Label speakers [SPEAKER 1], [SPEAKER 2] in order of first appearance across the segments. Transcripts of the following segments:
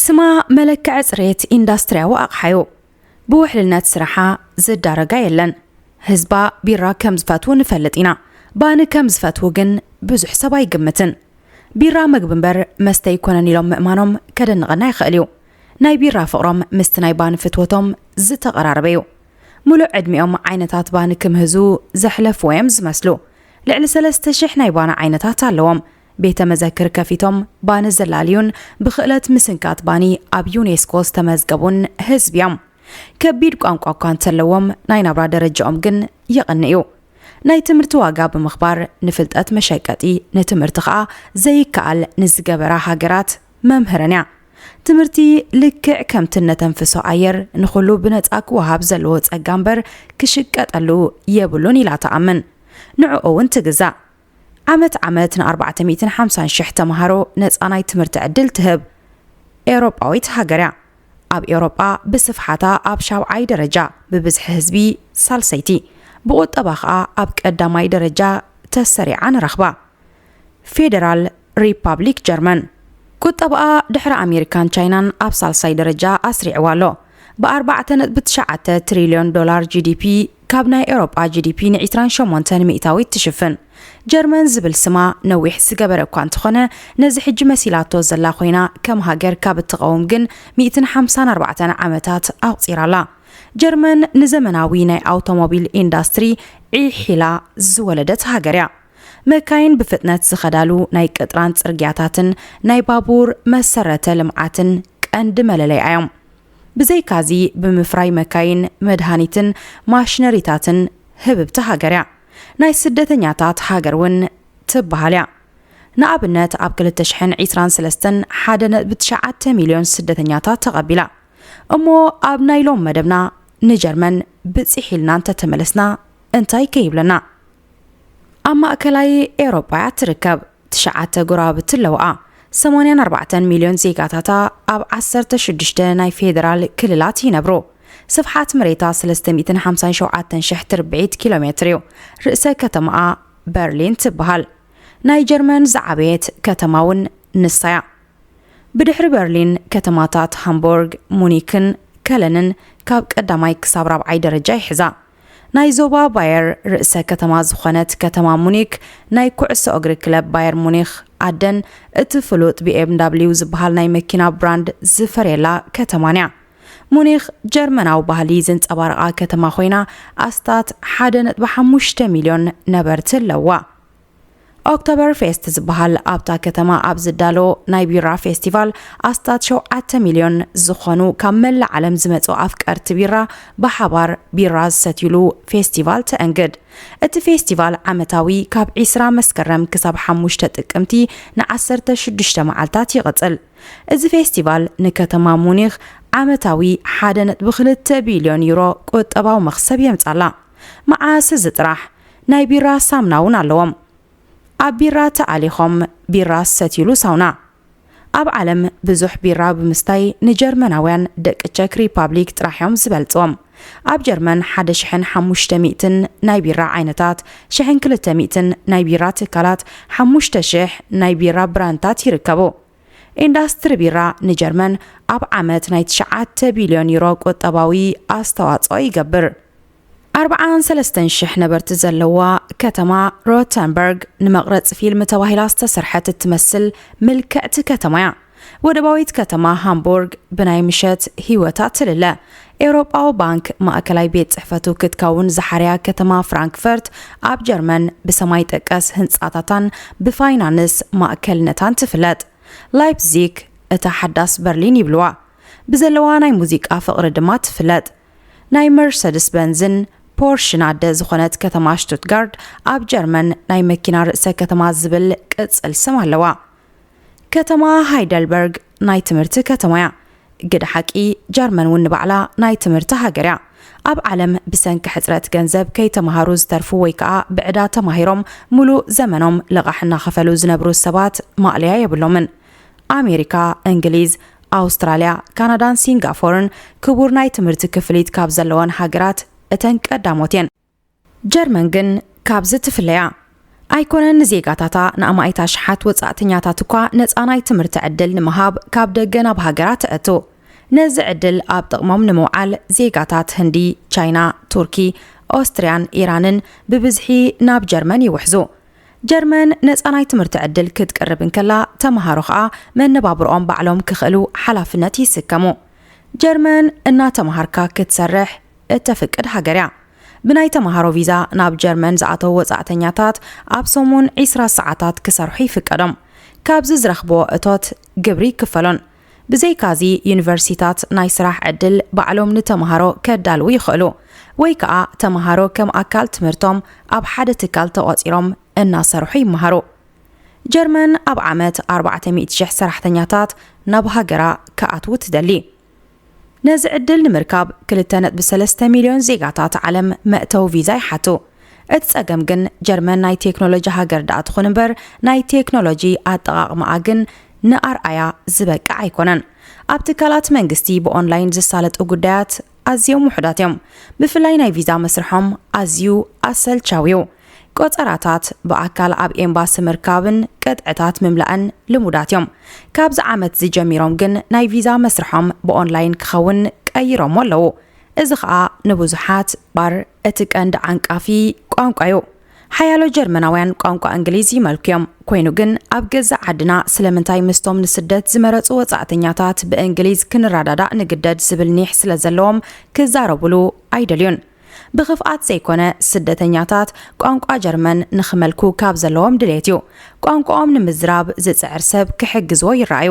[SPEAKER 1] ስማ መለክዐ ፅሬት ኢንዳስትሪያዊ ኣቕሓ እዩ ብውሕልነት ስራሓ ዝዳረጋ የለን ህዝባ ቢራ ከም ዝፈትው ንፈልጥ ኢና ባኒ ከም ዝፈትው ግን ብዙሕ ሰብ ኣይግምትን ቢራ ምግቢ እምበር መስተ ኣይኮነን ኢሎም ምእማኖም ከደንቐና ይኽእል እዩ ናይ ቢራ ፍቕሮም ምስቲ ናይ ባኒ ፍትወቶም ዝተቐራረበ እዩ ምሉእ ዕድሚኦም ዓይነታት ባኒ ክምህዙ ዘሕለፍዎ'ዮም ዝመስሉ። ልዕሊ ሰለስተ ሽሕ ናይ ባኒ ዓይነታት ኣለዎም። ቤተ መዘክር ከፊቶም ባኒ ዘላልዩን ብኽእለት ምስንካት ባኒ ኣብ ዩኔስኮ ዝተመዝገቡን ህዝቢ'ዮም። ከቢድ ቋንቋ እኳ እንተለዎም ናይ ናብራ ደረጃኦም ግን የቕን'ዩ። ናይ ትምህርቲ ዋጋ ብምኽባር ንፍልጠት መሸቀጢ ንትምህርቲ ከኣ ዘይከኣል ንዝገበራ ሃገራት መምህርን'ያ። ትምህርቲ ልክዕ ከምቲ እነተንፍሶ ኣየር ንኹሉ ብነጻ ክወሃብ ዘለዎ ጸጋ እምበር ክሽቀጠሉ የብሉን ኢላ ትኣምን። ንዕኡ እውን ትግዛእ። ዓመት ዓመት ንኣርባዕተ ሚእትን ሓምሳን ሽሕ ተመሃሮ ነጻ ናይ ትምህርቲ ዕድል ትህብ ኤውሮጳዊት ሃገር እያ። ኣብ ኤውሮጳ ብስፍሓታ ኣብ ሻብዓይ ደረጃ፣ ብብዝሒ ህዝቢ ሳልሰይቲ፣ ብቑጠባ ከኣ ኣብ ቀዳማይ ደረጃ ተሰሪዓ ንረኽባ። ፌደራል ሪፓብሊክ ጀርመን ቁጠባኣ ድሕሪ ኣሜሪካን ቻይናን ኣብ ሳልሳይ ደረጃ ኣስሪዕዋ ኣሎ። ብ ኣርባዕተ ነጥቢ ትሽዓተ ትሪልዮን ዶላር ጂዲፒ ካብ ናይ ኤውሮጳ ጂዲፒ ን ዕስራን ሸሞንተን ሚእታዊት ትሽፍን። ጀርመን ዝብል ስማ ነዊሕ ዝገበረ እኳ እንተኾነ ነዚ ሕጂ መሲላቶ ዘላ ኮይና ከም ሃገር ካብ እትቐውም ግን ሚእትን ሓምሳን ኣርባዕተን ዓመታት ኣቑጺራ ኣላ። ጀርመን ንዘመናዊ ናይ ኣውቶሞቢል ኢንዳስትሪ ዒሕ ኢላ ዝወለደት ሃገር እያ። መካይን ብፍጥነት ዝኸዳሉ ናይ ቅጥራን ጽርግያታትን ናይ ባቡር መሰረተ ልምዓትን ቀንዲ መለለይኣ እዮም። ብዘይካዚ ብምፍራይ መካይን፣ መድሃኒትን ማሽነሪታትን ህብብቲ ሃገር እያ። ናይ ስደተኛታት ሃገር እውን ትበሃል እያ። ንኣብነት ኣብ ክልተ ሽሕን ዒስራን ሰለስተን ሓደ ነጥቢ ትሽዓተ ሚልዮን ስደተኛታት ተቐቢላ። እሞ ኣብ ናይ ሎም መደብና ንጀርመን ብጺሕ ኢልና እንተተመለስና እንታይ ከ ይብለና? ኣብ ማእከላይ ኤውሮጳ እያ እትርከብ። ትሽዓተ ጎረባብቲ ኣለዋኣ። ሰማንያን ኣርባዕተን ሚልዮን ዜጋታታ ኣብ ዓሰርተ ሽዱሽተ ናይ ፌደራል ክልላት ይነብሩ። ስፍሓት መሬታ ሰለስተ ሚእትን ሓምሳን ሸውዓተን ሽሕ ትርብዒት ኪሎ ሜትር እዩ። ርእሰ ከተማኣ በርሊን ትበሃል። ናይ ጀርመን ዝዓበየት ከተማ እውን ንሳ እያ። ብድሕሪ በርሊን ከተማታት ሃምቡርግ፣ ሙኒክን ከለንን ካብ ቀዳማይ ክሳብ ራብዓይ ደረጃ ይሕዛ። ናይ ዞባ ባየር ርእሰ ከተማ ዝኾነት ከተማ ሙኒክ ናይ ኩዕሶ እግሪ ክለብ ባየር ሙኒኽ ኣደን እቲ ፍሉጥ ቢኤምዳብሊው ዝበሃል ናይ መኪና ብራንድ ዝፈርየላ ከተማን እያ። ሙኒኽ ጀርመናዊ ባህሊ ዘንጸባርቓ ከተማ ኮይና ኣስታት ሓደ ነጥቢ ሓሙሽተ ሚልዮን ነበርቲ ኣለውዋ። ኦክቶበር ፌስት ዝበሃል ኣብታ ከተማ ኣብ ዝዳሎ ናይ ቢራ ፌስቲቫል ኣስታት ሸውዓተ ሚልዮን ዝኾኑ ካብ መላእ ዓለም ዝመጹ ኣፍቀርቲ ቢራ ብሓባር ቢራ ዝሰትዩሉ ፌስቲቫል ተእንግድ። እቲ ፌስቲቫል ዓመታዊ ካብ ዒስራ መስከረም ክሳብ ሓሙሽተ ጥቅምቲ ንዓሰርተ ሽዱሽተ መዓልታት ይቕጽል። እዚ ፌስቲቫል ንከተማ ሙኒኽ ዓመታዊ ሓደ ነጥቢ ክልተ ቢልዮን ዩሮ ቁጠባዊ መኽሰብ የምጻላ። መዓስ እዚ ጥራሕ ናይ ቢራ ሳምና ውን ኣለዎም ኣብ ቢራ ተኣሊኾም ቢራ ዝሰትይሉ ሳውና ኣብ ዓለም ብዙሕ ቢራ ብምስታይ ንጀርመናውያን ደቂ ቸክ ሪፓብሊክ ጥራሕ ዮም ዝበልጽዎም ኣብ ጀርመን ሓደ ሽሕን ሓሙሽተ ሚእትን ናይ ቢራ ዓይነታት ሽሕን ክልተ ሚእትን ናይ ቢራ ትካላት ሓሙሽተ ሽሕ ናይ ቢራ ብራንድታት ይርከቡ ኢንዳስትሪ ቢራ ንጀርመን ኣብ ዓመት ናይ ትሽዓተ ቢልዮን ዩሮ ቁጠባዊ ኣስተዋጽኦ ይገብር። ኣርብዓን ሰለስተን ሽሕ ነበርቲ ዘለዋ ከተማ ሮተንበርግ ንመቕረጺ ፊልም ተባሂላ ዝተሰርሐት እትመስል ምልክዕቲ ከተማ'ያ። ወደባዊት ከተማ ሃምቡርግ ብናይ ምሸት ህይወታ ትልለ። ኤውሮጳዊ ባንክ ማእከላይ ቤት ጽሕፈቱ ክትከውን ዝሓርያ ከተማ ፍራንክፈርት ኣብ ጀርመን ብሰማይ ጠቀስ ህንጻታታን ብፋይናንስ ማእከልነታን ትፍለጥ። ላይፕዚግ እታ ሓዳስ በርሊን ይብልዋ። ብዘለዋ ናይ ሙዚቃ ፍቕሪ ድማ ትፍለጥ። ናይ መርሰድስ በንዝን ፖርሽን ኣደ ዝኾነት ከተማ ሽቱትጋርድ ኣብ ጀርመን ናይ መኪና ርእሰ ከተማ ዝብል ቅጽል ስም ኣለዋ። ከተማ ሃይደልበርግ ናይ ትምህርቲ ከተማ እያ። ግደ ሓቂ ጀርመን እውን ንባዕላ ናይ ትምህርቲ ሃገር እያ። ኣብ ዓለም ብሰንኪ ሕጽረት ገንዘብ ከይተማሃሩ ዝተርፉ ወይ ከኣ ብዕዳ ተማሂሮም ምሉእ ዘመኖም ልቓሕ እናኸፈሉ ዝነብሩ ሰባት ማእለያ የብሎምን። ኣሜሪካ፣ እንግሊዝ፣ ኣውስትራልያ፣ ካናዳን ሲንጋፎርን ክቡር ናይ ትምህርቲ ክፍሊት ካብ ዘለወን ሃገራት እተን ቀዳሞት እየን። ጀርመን ግን ካብዚ ትፍለያ ኣይኮነን ንዜጋታታ ንኣማኢት ኣሽሓት ወጻእተኛታት እኳ ነጻ ናይ ትምህርቲ ዕድል ንምሃብ ካብ ደገ ናብ ሃገራ ተእቱ። ነዚ ዕድል ኣብ ጥቕሞም ንምውዓል ዜጋታት ህንዲ፣ ቻይና፣ ቱርኪ፣ ኦስትርያን ኢራንን ብብዝሒ ናብ ጀርመን ይውሕዙ። ጀርመን ነጻ ናይ ትምህርቲ ዕድል ክትቅርብ እንከላ ተመሃሮ ከኣ መነባብሮኦም ባዕሎም ክኽእሉ ሓላፍነት ይስከሙ። ጀርመን እናተመሃርካ ክትሰርሕ እተፍቅድ ሃገር እያ። ብናይ ተመሃሮ ቪዛ ናብ ጀርመን ዝኣተዉ ወጻእተኛታት ኣብ ሰሙን ዒስራ ሰዓታት ክሰርሑ ይፍቀዶም። ካብዚ ዝረኽብዎ እቶት ግብሪ ይክፈሎን። ብዘይካዚ ዩኒቨርሲቲታት ናይ ስራሕ ዕድል ባዕሎም ንተመሃሮ ከዳልዉ ይኽእሉ። ወይ ከኣ ተመሃሮ ከም ኣካል ትምህርቶም ኣብ ሓደ ትካል ተቖጺሮም እናሰርሑ ይመሃሩ። ጀርመን ኣብ ዓመት ኣርባዕተ ሚእቲ ሽሕ ሰራሕተኛታት ናብ ሃገራ ክኣትዉ ትደሊ። ነዚ ዕድል ንምርካብ ክልተ ነጥቢ ሰለስተ ሚልዮን ዜጋታት ዓለም መእተዊ ቪዛ ይሓቱ። እቲ ጸገም ግን ጀርመን ናይ ቴክኖሎጂ ሃገር ደኣ ትኹን እምበር ናይ ቴክኖሎጂ ኣጠቓቕማኣ ግን ንኣርኣያ ዝበቅዕ ኣይኮነን። ኣብ ትካላት መንግስቲ ብኦንላይን ዝሳለጡ ጉዳያት ኣዝዮም ውሑዳት እዮም። ብፍላይ ናይ ቪዛ መስርሖም ኣዝዩ ኣሰልቻዊ'ዩ። ቆጸራታት ብኣካል ኣብ ኤምባሲ ምርካብን ቅጥዕታት ምምላእን ልሙዳት እዮም። ካብዚ ዓመት'ዚ ጀሚሮም ግን ናይ ቪዛ መስርሖም ብኦንላይን ክኸውን ቀይሮሞ ኣለዉ። እዚ ኸኣ ንብዙሓት ባር እቲ ቀንዲ ዓንቃፊ ቋንቋ'ዩ። ሓያሎ ጀርመናውያን ቋንቋ እንግሊዝ ይመልኩ'ዮም። ኮይኑ ግን ኣብ ገዛእ ዓድና ስለምንታይ ምስቶም ንስደት ዝመረጹ ወጻእተኛታት ብእንግሊዝ ክንረዳዳእ ንግደድ ዝብል ኒሕ ስለዘለዎም ክዛረቡሉ ኣይደልዩን። ብኽፍኣት ዘይኮነ ስደተኛታት ቋንቋ ጀርመን ንኽመልኩ ካብ ዘለዎም ድሌት እዩ። ቋንቋኦም ንምዝራብ ዝጽዕር ሰብ ክሕግዝዎ ይረኣዩ።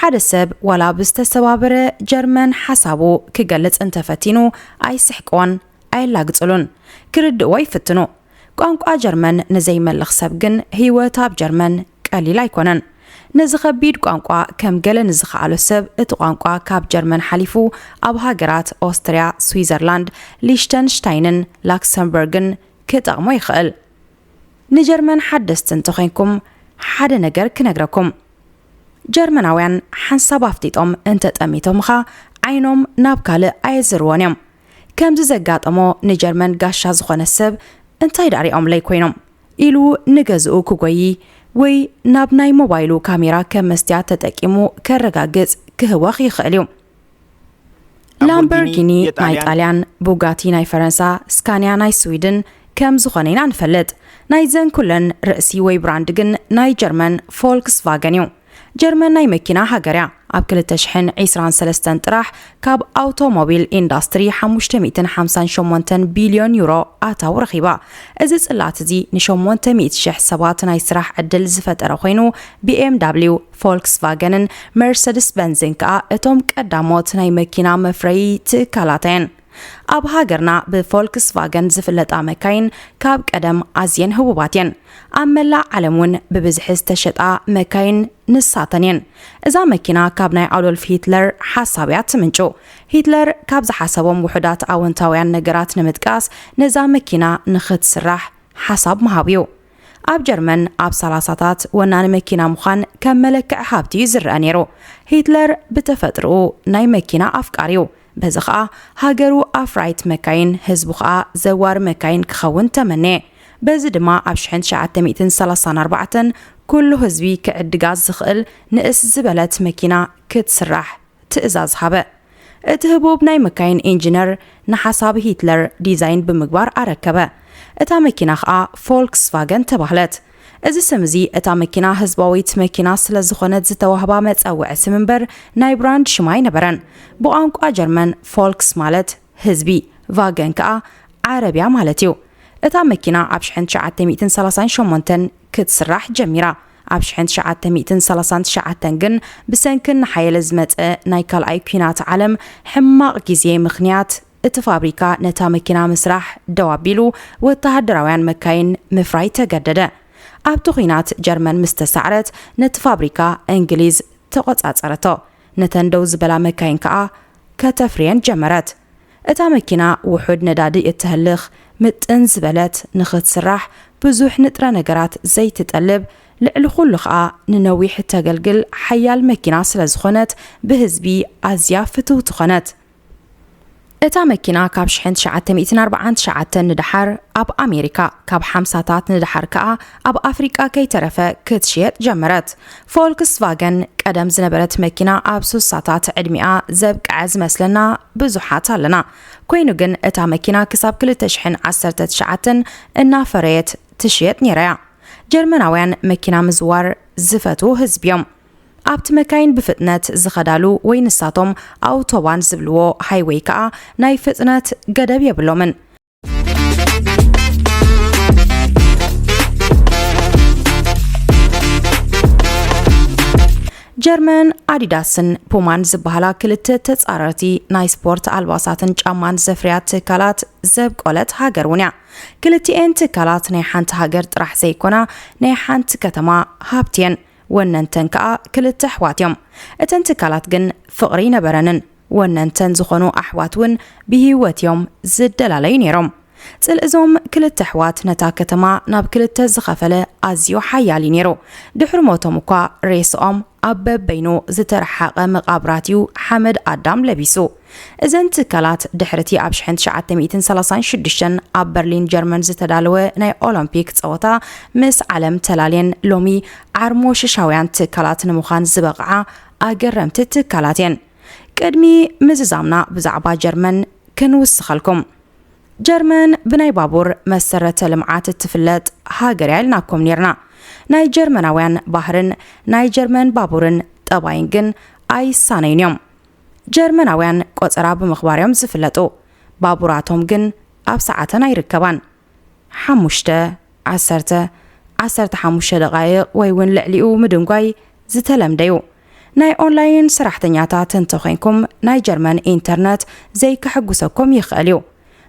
[SPEAKER 1] ሓደ ሰብ ዋላ ብዝተሰባበረ ጀርመን ሓሳቡ ክገልጽ እንተፈቲኑ ኣይስሕቅዎን፣ ኣየላግጽሉን። ክርድእዎ ይፍትኑ። ቋንቋ ጀርመን ንዘይመልኽ ሰብ ግን ህይወት ኣብ ጀርመን ቀሊል ኣይኮነን። ነዚ ከቢድ ቋንቋ ከም ገለ ንዝኸኣሎ ሰብ እቲ ቋንቋ ካብ ጀርመን ሓሊፉ ኣብ ሃገራት ኦስትርያ፣ ስዊዘርላንድ፣ ሊሽተንሽታይንን ላክሰምበርግን ክጠቕሞ ይኽእል። ንጀርመን ሓደስቲ እንተኾይንኩም ሓደ ነገር ክነግረኩም። ጀርመናውያን ሓንሳብ ኣፍጢጦም እንተጠሚቶምኻ ዓይኖም ናብ ካልእ ኣየዝርዎን እዮም። ከምዚ ዘጋጠሞ ንጀርመን ጋሻ ዝኾነ ሰብ እንታይ ደኣ ሪኦምለይ ኮይኖም። ኢሉ ንገዝኡ ክጎዪ ወይ ናብ ናይ ሞባይሉ ካሜራ ከም መስትያት ተጠቂሙ ከረጋግጽ ክህወኽ ይኽእል እዩ። ላምበርጊኒ ናይ ጣልያን፣ ቡጋቲ ናይ ፈረንሳ፣ ስካንያ ናይ ስዊድን ከም ዝኾነ ኢና ንፈልጥ። ናይዘን ኩለን ርእሲ ወይ ብራንድ ግን ናይ ጀርመን ፎልክስቫገን እዩ። ጀርመን ናይ መኪና ሃገር እያ። ኣብ ክልተ ሽሕን ዒስራን ሰለስተን ጥራሕ ካብ ኣውቶሞቢል ኢንዳስትሪ ሓሙሽተ ሚእትን ሓምሳን ሸሞንተን ቢልዮን ዩሮ ኣታዊ ረኺባ። እዚ ጽላት እዚ ንሸሞንተ ሚእቲ ሽሕ ሰባት ናይ ስራሕ ዕድል ዝፈጠረ ኮይኑ፣ BMW፣ ፎልክስቫገንን መርሰድስ በንዝን ከኣ እቶም ቀዳሞት ናይ መኪና መፍረዪ ትካላት እየን። ኣብ ሃገርና ብፎልክስቫገን ዝፍለጣ መካይን ካብ ቀደም ኣዝየን ህቡባት እየን። ኣብ መላእ ዓለም እውን ብብዝሒ ዝተሸጣ መካይን ንሳተን እየን። እዛ መኪና ካብ ናይ ኣዶልፍ ሂትለር ሓሳብ እያ ትምንጩ። ሂትለር ካብ ዝሓሰቦም ውሑዳት ኣወንታውያን ነገራት ንምጥቃስ ነዛ መኪና ንኽትስራሕ ሓሳብ ምሃብ እዩ። ኣብ ጀርመን ኣብ ሰላሳታት ወናኒ መኪና ምዃን ከም መለክዒ ሃብቲ እዩ ዝረአ ነይሩ። ሂትለር ብተፈጥርኡ ናይ መኪና ኣፍቃሪ እዩ። በዚ ኸኣ ሃገሩ ኣፍራይት መካይን፣ ህዝቡ ኸኣ ዘዋሪ መካይን ክኸውን ተመንየ። በዚ ድማ ኣብ ሽሕን ትሽዓተ ሚእትን ሰላሳን ኣርባዕተን ኩሉ ህዝቢ ክዕድጋ ዝኽእል ንእስ ዝበለት መኪና ክትስራሕ ትእዛዝ ሃበ። እቲ ህቡብ ናይ መካይን ኢንጂነር ንሓሳብ ሂትለር ዲዛይን ብምግባር ኣረከበ። እታ መኪና ኸኣ ፎልክስቫገን ተባህለት። እዚ ስም እዚ እታ መኪና ህዝባዊት መኪና ስለ ዝኾነት ዝተዋህባ መጸውዒ ስም እምበር ናይ ብራንድ ሽም ኣይነበረን። ብቋንቋ ጀርመን ፎልክስ ማለት ህዝቢ፣ ቫገን ከኣ ዓረብያ ማለት እዩ። እታ መኪና ኣብ ሽሕን ትሽዓተ ሚእትን ሰላሳን ሸሞንተን ክትስራሕ ጀሚራ። ኣብ ሽሕን ትሽዓተ ሚእትን ሰላሳን ትሽዓተን ግን ብሰንኪ እናሓየለ ዝመጸ ናይ ካልኣይ ኲናት ዓለም ሕማቕ ግዜ ምኽንያት፣ እቲ ፋብሪካ ነታ መኪና ምስራሕ ደው ኣቢሉ ወተሃደራውያን መካይን ምፍራይ ተገደደ። ኣብቲ ኲናት ጀርመን ምስ ተሳዕረት ነቲ ፋብሪካ እንግሊዝ ተቖጻጸረቶ፣ ነተን ደው ዝበላ መካይን ከኣ ከተፍርየን ጀመረት። እታ መኪና ውሑድ ነዳዲ እተህልኽ፣ ምጥን ዝበለት፣ ንኽትስራሕ ብዙሕ ንጥረ ነገራት ዘይትጠልብ፣ ልዕሊ ዅሉ ኸኣ ንነዊሕ እተገልግል ሓያል መኪና ስለ ዝዀነት ብህዝቢ ኣዝያ ፍትውቲ ዀነት። እታ መኪና ካብ ሽሕን ትሽዓተ ሚእትን ኣርብዓን ትሽዓተን ንደሓር ኣብ ኣሜሪካ ካብ ሓምሳታት ንደሓር ከኣ ኣብ ኣፍሪቃ ከይተረፈ ክትሽየጥ ጀመረት። ፎልክስቫገን ቀደም ዝነበረት መኪና ኣብ ሱሳታት ዕድሚኣ ዘብቅዐ ዝመስለና ብዙሓት ኣለና። ኮይኑ ግን እታ መኪና ክሳብ ክልተ ሽሕን ዓሰርተ ትሽዓተን እናፈረየት ትሽየጥ ነይራ እያ። ጀርመናውያን መኪና ምዝዋር ዝፈትዉ ህዝቢ እዮም። ኣብቲ መካይን ብፍጥነት ዝኸዳሉ ወይ ንሳቶም ኣውቶባን ዝብልዎ ሃይወይ ከኣ ናይ ፍጥነት ገደብ የብሎምን። ጀርመን ኣዲዳስን ፑማን ዝበሃላ ክልተ ተጻረርቲ ናይ ስፖርት ኣልባሳትን ጫማን ዘፍርያ ትካላት ዘብቆለት ሃገር እውን እያ ክልቲኤን ትካላት ናይ ሓንቲ ሃገር ጥራሕ ዘይኮና ናይ ሓንቲ ከተማ ሃብቲ እየን ወነንተን ከኣ ክልተ ኣሕዋት እዮም። እተን ትካላት ግን ፍቕሪ ኣይነበረንን። ወነንተን ዝኾኑ ኣሕዋት እውን ብህይወት እዮም ዝደላለዩ ነይሮም። ጽልኢ እዞም ክልተ ኣሕዋት ነታ ከተማ ናብ ክልተ ዝኸፈለ ኣዝዩ ሓያል እዩ ነይሩ። ድሕሪ ሞቶም እኳ ሬስኦም ኣብ በበይኑ ዝተረሓቐ መቓብራት እዩ ሓመድ ኣዳም ለቢሱ። እዘን ትካላት ድሕሪቲ ኣብ ሽሕን ትሽዓተ ሚእትን ሰላሳን ሽዱሽተን ኣብ በርሊን ጀርመን ዝተዳለወ ናይ ኦሎምፒክ ጸወታ ምስ ዓለም ተላልየን ሎሚ ዓርሞ ሽሻውያን ትካላት ንምዃን ዝበቕዓ ኣገረምቲ ትካላት እየን። ቅድሚ ምዝዛምና ብዛዕባ ጀርመን ክንውስኸልኩም። ጀርመን ብናይ ባቡር መሰረተ ልምዓት እትፍለጥ ሃገር እያ ኢልናኩም ኔርና። ናይ ጀርመናውያን ባህርን ናይ ጀርመን ባቡርን ጠባይን ግን ኣይሳነዩን እዮም። ጀርመናውያን ቆጸራ ብምኽባር'ዮም ዝፍለጡ፣ ባቡራቶም ግን ኣብ ሰዓተን ኣይርከባን፣ ሓሙሽተ፣ ዓሰርተ፣ ዓሰርተ ሓሙሽተ ደቓይቕ ወይ'ውን ልዕሊኡ ምድንጓይ ዝተለምደ'ዩ። ናይ ኦንላይን ሰራሕተኛታት እንተኾይንኩም ናይ ጀርመን ኢንተርነት ዘይከሐጉሰኩም ይኽእል'ዩ፣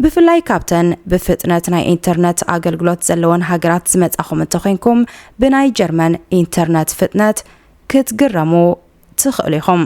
[SPEAKER 1] ብፍላይ ካብተን ብፍጥነት ናይ ኢንተርነት ኣገልግሎት ዘለወን ሃገራት ዝመጻኹም እንተኾይንኩም ብናይ ጀርመን ኢንተርነት ፍጥነት ክትግረሙ ትኽእሉ ኢኹም።